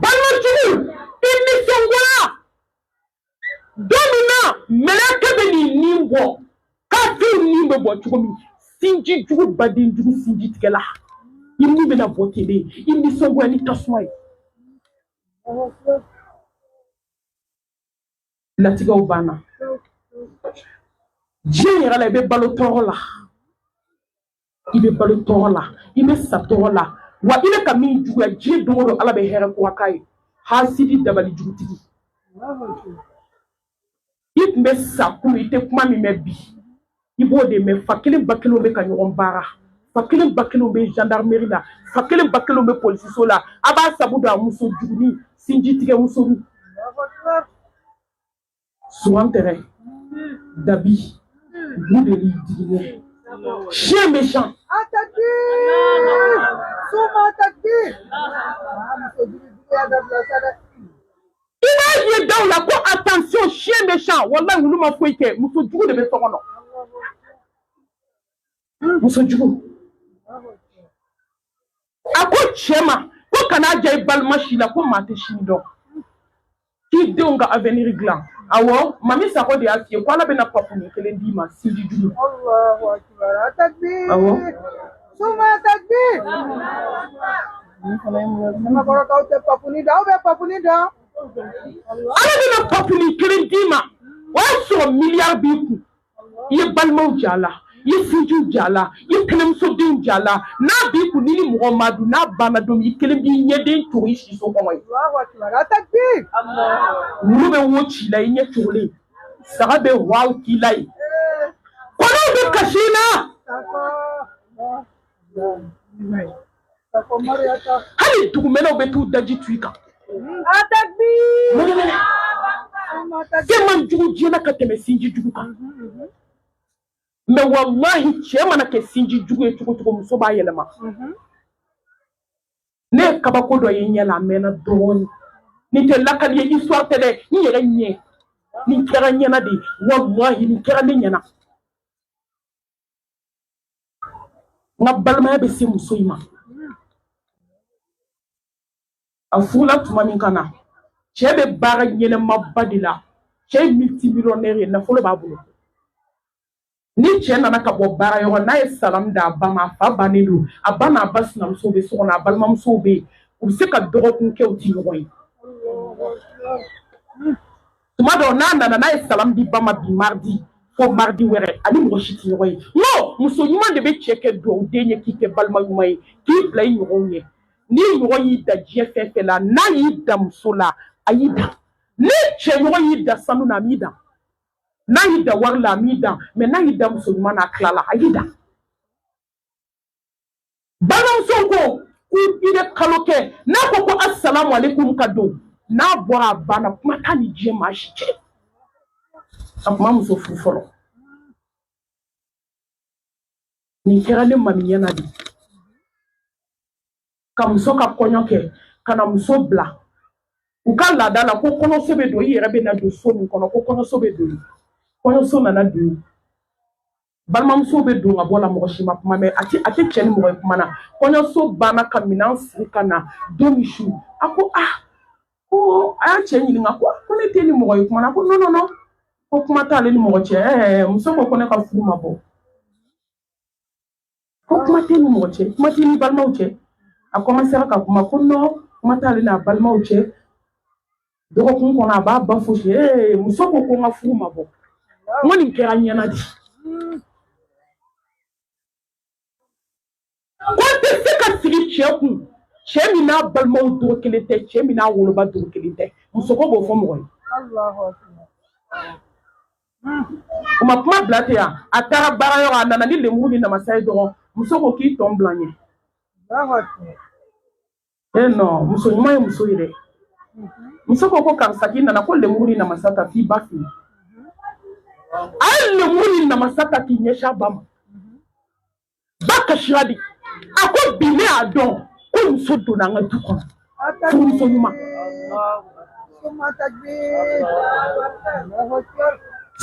balo jugu i nisɔngoya don min na mɛlɛkɛ bɛ n'i ni bɔ kafiriw ni bɛ bɔ cogo min sinji jugu baden jugu sinjitigɛla i ni bɛna bɔ ten de i nisɔngoya ni tasuma ye latigɛw banna diɲɛ yɛrɛ la i bɛ balo tɔɔrɔ la i bɛ balo tɔɔrɔ la i bɛ sa tɔɔrɔ la wa i bɛ ka min juguya diɲɛ don o don ala bɛ hɛrɛ ko k'a ye hasidi dabali jugutigi i tun bɛ sa kunun i tɛ kuma min mɛn bi i b'o de mɛn fa kelen ba kelen bɛ ka ɲɔgɔn baara fa kelen ba kelen bɛ gendarmerie la fa kelen ba kelen bɛ polisiso la a b'a sabu dɔn wa muso juguni sinjitigɛmuso suman tɛrɛ dabi bunteni digiɲɛ chien méchant i b'a ye daw la ko attention chien méchant walayi wulu ma foyi kɛ muso jugu de bɛ so kɔnɔ muso jugu a ko cɛ ma ko kana ja i balima si la ko maa tɛ sini dɔn k'i denw ka avenir dilan awɔ mami sako de y'a f'i ye ko ala bɛna papuni kelen d'i ma sinji jugu awɔ summa takbir kɔrɔkaw tɛ papuni dɔn aw bɛ papuni dɔn ala bɛna papuni kelen d'i ma o y'a sɔrɔ miliyari b'i kun i ye balimaw jɛ a la i ye sinjiw jɛ a la i ye tɛnɛmusodenw jɛ a la n'a b'i kun n'i ni mɔgɔ m'a dun n'a banna don min i kelen b'i ɲɛden cogo i siso kɔngɔ ye wulu bɛ wo c'i la i ɲɛ cogolen saga bɛ waw k'i la ye kɔnɔw bɛ kasi i la hali dugumɛnɛw bɛ t'u daji tu i kan fɛn man jugu diɲɛ na ka tɛmɛ sinji jugu kan mɛ walahi cɛ mana kɛ sinji jugu ye cogo cogo muso b'a yɛlɛma ne ye kabako dɔ ye n ɲɛ la a mɛnna dɔɔni nin tɛ lakali ye histoire tɛ dɛ n yɛrɛ ɲɛ nin kɛra n ɲɛna de walahi nin kɛra ne ɲɛna n ka balimaya bɛ se muso in ma a furula tuma min ka na cɛ bɛ baara ɲɛnamaba de la cɛ ye multimillionnaire ye nafolo b'a bolo ni cɛ nana ka bɔ baara yɔrɔ n'a ye salamu d'a ba ma a fa bannen don a ba n'a ba sinamuso bɛ so kɔnɔ a balimamusow bɛ yen u bɛ se ka dɔgɔkun kɛ u tɛ ɲɔgɔn ye tuma dɔw n'a nana n'a ye salamu di ba ma bi maridi fo maridi wɛrɛ a ni mɔgɔ si tɛ ɲɔgɔn ye nɔ muso ɲuman de bɛ cɛ kɛ duwawu den ye k'i kɛ balima ɲuman ye k'i bila i ɲɔgɔnw ɲɛ n'i ɲɔgɔn y'i dan diɲɛ fɛn fɛn la n'a y'i dan muso la a y'i dan n'i cɛ ɲɔgɔn y'i dan sanu na a m'i dan n'a y'i dan wari la a m'i dan mɛ n'a y'i dan muso ɲuman na a tilala a y'i dan balimamuso ko ko i bɛ kalo kɛ n'a ko ko asalamu aleykum ka don n'a bɔra a banna kuma t'a ni diɲɛ maa si cɛ a tun ma muso furu fɔlɔ nin kɛra ne mami ɲɛna de ka muso ka kɔɲɔ kɛ ka na muso bila u ka laada la ko kɔɲɔso bɛ don i yɛrɛ bɛ na don so min kɔnɔ ko kɔɲɔso bɛ don kɔɲɔso nana don balimamuso bɛ don ka bɔ la mɔgɔ si ma kuma mɛn a tɛ a tɛ cɛ ni mɔgɔ ye kuma na kɔɲɔso banna ka minɛn siri ka na don min su a ko a ah, ko a y'a cɛ ɲininka ko ko ne t'e ni mɔgɔ ye kuma na ko non non non ko kuma t'ale ni mɔgɔ cɛ ɛɛ muso ko ko ne ka furu ma bɔ ko kuma t'e ni mɔgɔ cɛ kuma t'e n'i balimaw cɛ a kɔmansera ka kuma ko nɔ kuma t'ale n'a balimaw cɛ dɔgɔkun kɔnɔ a b'a ba fo ee muso ko ko n ka furu ma bɔ n ko nin kɛra n ɲɛna de ko n tɛ se ka sigi cɛ kun cɛ min n'a balimaw dogo kelen tɛ cɛ min n'a woloba dogo kelen tɛ muso ko b'o fɔ mɔgɔ ye u ma kuma bila ten yan a taara baara yɔrɔ a nana ni lemuru ni namasa ye dɔrɔn muso ko k'i tɔn bila ɲɛ e nɔ muso ɲuman ye muso ye dɛ muso ko ko karisa k'i nana ko lemuru ni namasa ta t'i ba fo n ye a ye lemuru ni namasa ta k'i ɲɛsin a ba ma ba kasira de a ko bi ne y'a dɔn ko muso donna an ka du kɔnɔ furumuso ɲuman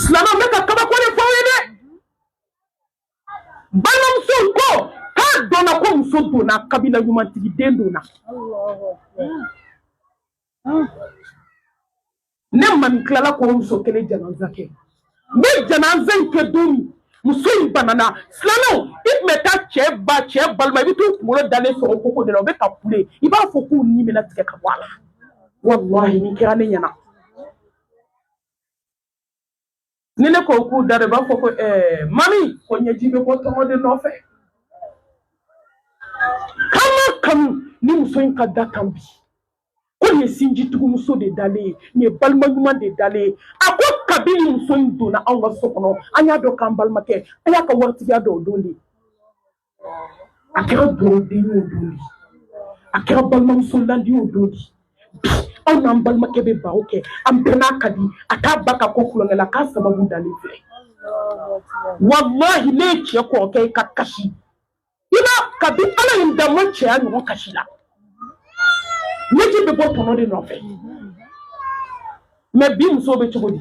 silamɛw n bɛ ka kabako de fɔ aw ye dɛ balimamusow ko k'a dɔnna ko muso donna kabila ɲumantigi den donna hmm. ne mami tilala k'o muso kelen janaza kɛ n bɛ janaza in kɛ don min muso in banana silamɛw i tun bɛ taa cɛ ba cɛ balima i bɛ t'u kunkolo dalen sɔrɔ koko de la u bɛ ka kule i b'a fɔ k'u ni bɛna tigɛ ka bɔ a la walahi nin kɛra ne ɲɛna ni ne ko k'u da de b'a fɔ ko ɛɛ eh, mami ko ɲɛji bɛ bɔ tɔnɔ de nɔfɛ k'an m'a kanu nin muso in ka da tan bi ko nin ye sinjitugumuso de dalen ye nin ye balima ɲuman de dalen ye a ko kabini muso in donna anw ka so kɔnɔ an y'a dɔn k'an balimakɛ an y'a ka waritigiya dɔn o don de a kɛra dɔgɔ den y'o don di a kɛra balimamuso la den y'o don di bi anw n'an balimakɛ bɛ baro kɛ an bɛɛ n'a ka di a t'a ba ka ko kulonkɛ la k'a sababu dalen filɛ walahi ne ye cɛ kɔrɔkɛ ye ka kasi i b'a kabi ala ye n da n ma cɛ ye a ɲɔgɔn kasi la ɲɛji bɛ bɔ tɔnɔ de nɔfɛ mɛ bi musow bɛ cogo di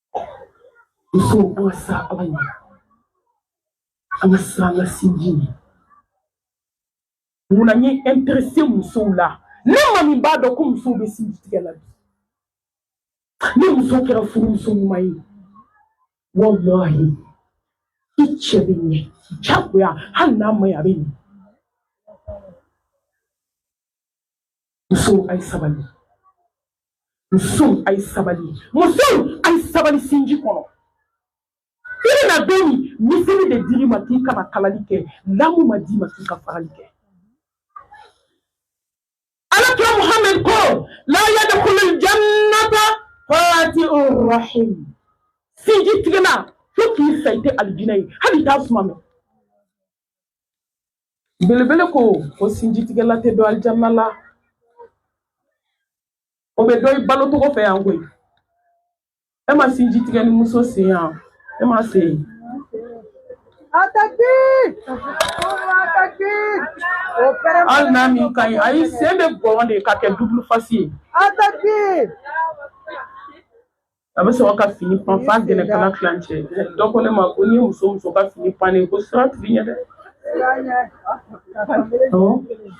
Musow an ka siran Ala ɲɛ, an ka siran an ka sinji ɲɛ. Mun na n ye interesser musow la ne maa min b'a dɔn ko musow bɛ sinji tigɛ la bi? Ni muso kɛra furumuso ɲuman ye, walahi i cɛ bɛ ɲɛ jagoya hali n'a man ɲi a bɛ ɲɛ. musow a ye sabali musow a ye sabali musow a ye sabali sinji kɔnɔ i bɛna don min miseli de dir'i ma k'i ka na kalali kɛ lamu ma d'i ma k'i ka farali kɛ ala kira muhammed ko la yadkhulu ljannata qati'u rahim sinji tigɛna fo k'i sa i tɛ alijinɛ ye hali i t'a suma mɛn belebele ko ko sinjitigɛla tɛ don alijanna la o bɛ dɔn i balo cogo fɛ yan koyi e ma sinji tigɛni muso sen ye wa e m'a sen ye hali n'a min ka ɲi ayi sen bɛ gɔn de ka kɛ double face ye a bɛ sɔrɔ ka fini pan f'a gɛlɛnkala tilancɛ donc ne ma ko n'i ye muso muso ka fini pannen ko sira tigi ɲɛ dɛ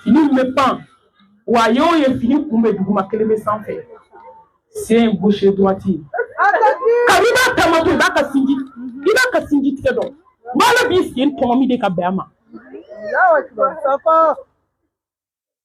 fini min bɛ pan wa a y'o ye fini kun bɛ duguma kelen bɛ sanfɛ sen gauche droite kabini b'a taamatɔ i b'a ka sinji i b'a ka sinji tigɛ dɔn ala b'i sen tɔnɔmi de ka bɛn a ma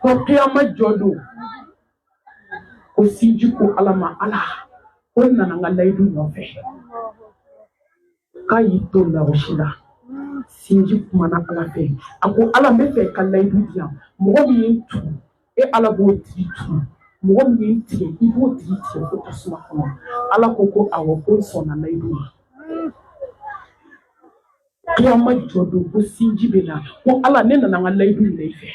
ko kiyama jɔ don ko sinji ko ala ma ala ko n nana n ka layidu nɔfɛ k'a y'i to larsi la sinji kumana ala fɛ a ko ala n bɛ fɛ ka layidu di yan mɔgɔ min ye n tugu e ala b'o tigi tugu mɔgɔ min ye n tigɛ i b'o tigi tigɛ ko tasuma kɔnɔ ala ko ko awɔ ko n sɔnna layidu ma Kiyama jɔ don ko sinji bɛ na ko Ala ne nana n ka layidu minɛ i fɛ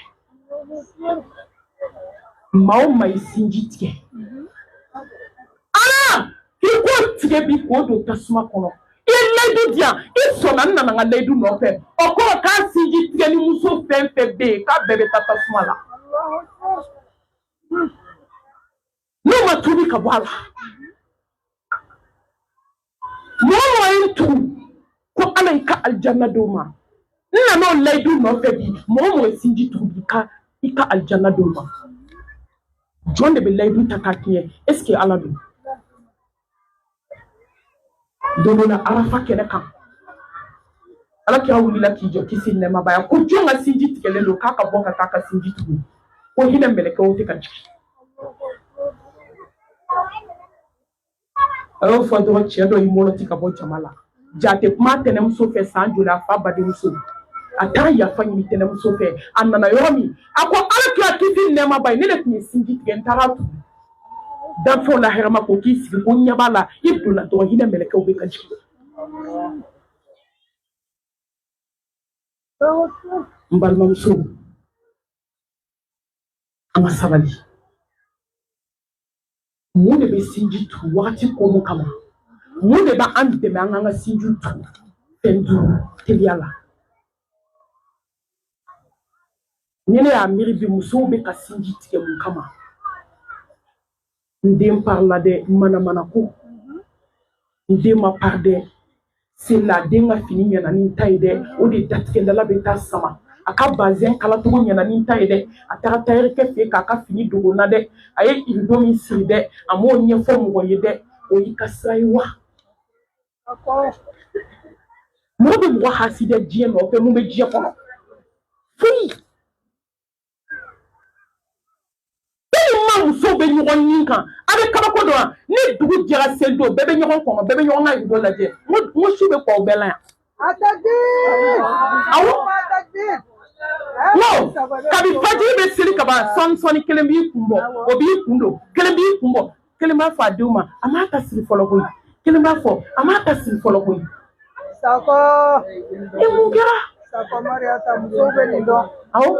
maa o maa ye sinji tigɛ Ala i k'o tigɛ bi k'o don tasuma kɔnɔ i ye layidu di yan i sɔnna n nana n ka layidu nɔfɛ o kɔrɔ k'a sinji tigɛni muso fɛn fɛn bɛ yen k'a bɛɛ bɛ taa tasuma la. n'o ma tubi ka bɔ a la mɔgɔ mɔgɔ ye n tugu ko ala i ka alijanna d'o ma n nana o layidu nɔfɛ bi mɔgɔ mɔgɔ ye sinji tugu bi ka i ka alijanna d'o ma jɔn de bɛ layidu ta k'a tiɲɛ est ce que ala don don dɔ la arafa kɛnɛ kan ala kira wulila k'i jɔ kisi nɛɛma b'a ye ko jɔn ka sinji tigɛlen don k'a ka bɔ ka taa a ka sinji tugu ko hinɛ mɛlɛkɛw tɛ ka jigin a y'o fɔ dɔrɔn cɛ dɔ y'i mɔlɔti ka bɔ jama la jaa a tɛ kuma a tɛnɛmuso fɛ san joli a fa badenmuso a taara yafa ɲini tɛnɛmuso fɛ a nana yɔrɔ min a ko ala kira kisi nɛɛma b'a ye ne de tun ye sinji tigɛ n taara a tugu danfɛnw la hɛrɛma ko k'i sigi ko ɲɛ b'a la i donna dɔrɔn hinɛ mɛlɛkɛw bɛ ka jigin n balimamuso an ka sabali mun de bɛ sinji tu wagati ko mun kama mun de b'an dɛmɛ an k'an ka sinjiw tu fɛn duuru teliya la ni ne y'a miiri bi musow bɛ ka sinji tigɛ mun kama n den parila dɛ manamanako n den ma pari dɛ sina den ka fini ɲɛna ni n ta ye dɛ o de datigɛdala bɛ taa san ma a ka bazɛn kalacogo ɲɛna ni n ta ye dɛ a taara tayɛrikɛ fɛ k'a ka fini dogo n na dɛ a ye irido min siri dɛ a m'o ɲɛfɔ mɔgɔ ye dɛ o y'i ka sira ye wa mɔgɔ bɛ mɔgɔ hasidɛ diɲɛ nɔfɛ mun bɛ diɲɛ kɔnɔ foyi tellement musow bɛ ɲɔgɔn ɲin kan a bɛ kabako dɔn wa ni dugu jɛra seli don bɛɛ bɛ ɲɔgɔn kɔnɔ bɛɛ bɛ ɲɔgɔn ka rido lajɛ n ko n ko su bɛ ko aw bɛɛ la yan. awɔ non kabi fajiri bɛ seli kaban sɔɔni sɔɔni kelen b'i kun bɔ o b'i kun don kelen b'i kun bɔ kelen b'a fɔ a denw ma a m'a ta siri fɔlɔ koyi kelen b'a fɔ a m'a ta siri fɔlɔ koyi sakɔ i mun kɛra sakɔ mariyata musow bɛ nin dɔn awɔ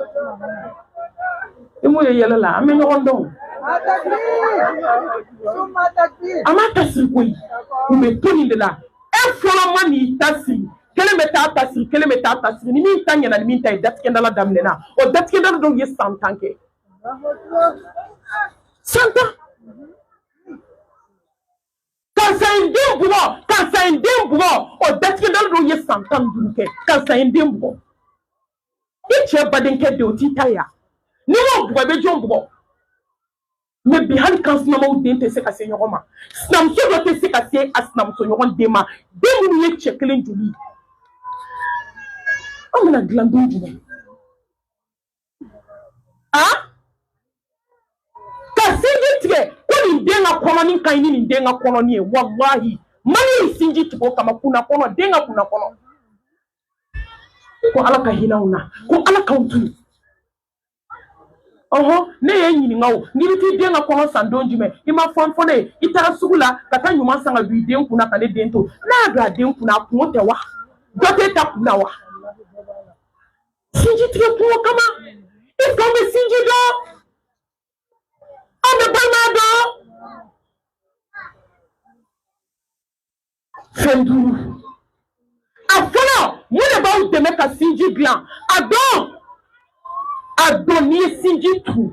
i mun ye yɛlɛ la an bɛ ɲɔgɔn dɔn a m'a ta siri koyi u bɛ to nin de la e fɔlɔ man'i ta siri kelen bɛ taa a ta siri kelen bɛ taa a ta siri ni min ta ɲɛna ni min ta ye datigɛdala daminɛna o datigɛdala dɔw ye san tan kɛ san tan karisa ye n den bugɔ karisa ye n den bugɔ o datigɛdala dɔw ye san tan ni duuru kɛ karisa ye n den bugɔ i cɛ badenkɛ den o t'i ta ye wa n'i m'o bugɔ i bɛ jɔn bugɔ mais bi hali kan sinamaw den tɛ se ka se ɲɔgɔn ma sinamuso dɔ tɛ se ka se a sinamuso ɲɔgɔn den ma den minnu ye cɛ kelen joli ye an bɛna dilan don jumɛn a ka sinji tigɛ ko nin den ka kɔnɔni ka ɲi ni nin den ka kɔnɔni ye walahi mali ye sinji tigɛ o kama kunna kɔnɔ den ka kunna kɔnɔ ko ala ka hinɛ anw na ko ala k'anw to yen ɔhɔn ne y'i ɲininka o n'i bɛ t'i den ka kɔnɔ san don jumɛn i ma fɛn fɔ ne ye i taara sugu la ka taa ɲuman san ka don i den kun na ka ne den to n'a y'a don a den kun na a kunko tɛ wa dɔ t'e ta kun na wa. sinji tigɛ kunko kama est-ce qu'an bɛ sinji dɔn an bɛ balima dɔn fɛn duuru a fɔlɔ mun de b'aw dɛmɛ ka sinji dilan a dɔn a dɔn n'i ye sinji tu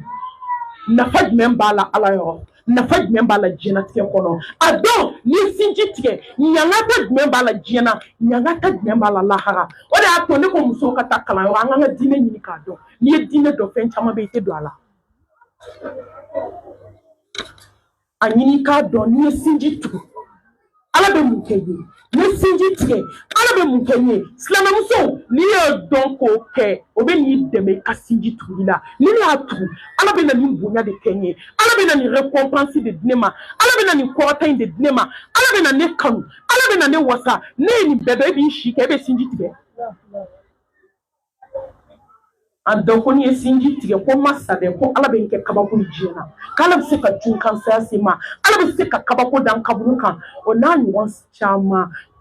nafa jumɛn b'a la ala yɔrɔ nafa jumɛn b'a la diɲɛnatigɛ kɔnɔ a dɔn n'i ye sinji tigɛ ɲangata jumɛn b'a la diɲɛ na ɲangata jumɛn b'a la lahara o de y'a to ne ko musow ka taa kalanyɔrɔ an k'an ka diinɛ ɲini k'a dɔn n'i ye diinɛ dɔn fɛn caman bɛ i tɛ don a la a ɲini k'a dɔn n'i ye sinji tugu ala bɛ mun kɛ i ye n'i ye sinji tigɛ ala bɛ mun kɛ i ye silamɛmuso n'i y'o dɔn k'o kɛ o bɛ n'i dɛmɛ i ka sinji tuguli la ni ne y'a tugu ala bɛ na nin bonya de kɛ n ye ala bɛ na nin récompense de di ne ma ala bɛ na nin kɔrɔta in de di ne ma ala bɛ na ne kanu ala bɛ na ne wasa n'e ye nin bɛɛ dɔn e b'i sigi k'e bɛ sinji tigɛ a dɔn ko n'i ye sinji tigɛ ko masa bɛ ko ala bɛ n kɛ kabako ye diɲɛ na k'ala bɛ se ka cun kan saya se n ma ala bɛ se ka kabako da n kaburu kan o n'a ɲɔgɔn caman